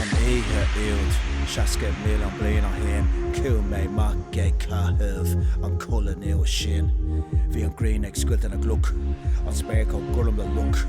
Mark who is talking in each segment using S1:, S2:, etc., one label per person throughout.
S1: An oíche úd, seasca milliún bliain ó shin, chuaigh mé amach ag caitheamh an chulaith nua sin. Bhí an ghrian ag scoilteadh na gcloch, an spéir chomh gorm le loch.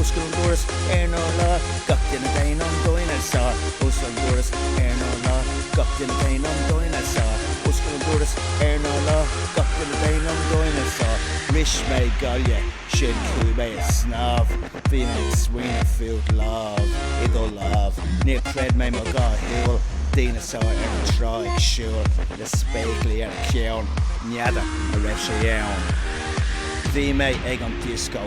S1: Oscail an doras ar an urlár, gach duine dein an dineasár. Oscail an doras ar an urlár, gach duine dein an dineasár. Oscail an doras ar an urlár, gach duine dein an dineasár. Bhris mé gaile, sin chuaigh mé ag snámh. Bhí mé ag smaoineamh fút, lámh i do lámh. Níor chreid mé mo dhá shúil, dineasár ar an trá ag siúl le spéaclaí ar a cheann. N'fheadar an raibh sé ann. Bhí mé ag an dioscó.